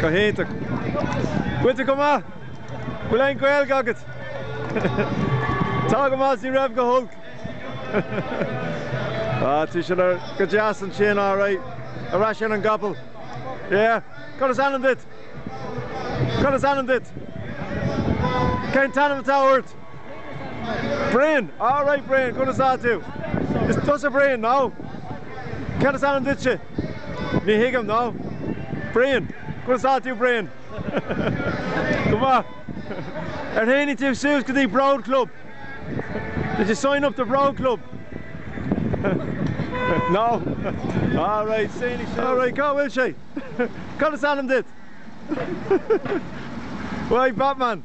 Go hiontach. Goite go maith. Bhfuil aon Gaeilge agat? Tá go maith, 's ní raibh go holc. Ah, tí sin ar go deas ansin, alright. Ar ais ar an gcapall. Yeah. Cad is ainm duit? Cad is ainm duit? Cén t-ainm atá ort? Brian, Alright Brian, conas tá tú? Is tusa Brian, nó? Cad is ainm duitse? Ní thuigim, nó? Brian, conas tá tú Brian? Go maith. Ar tháinig tú suas go dtí Bród Club? Did you sign up to Bród Club? No? Alright, tháinig suas. Alright, cá bhfuil sé? Cad is ainm duit? Right, Batman.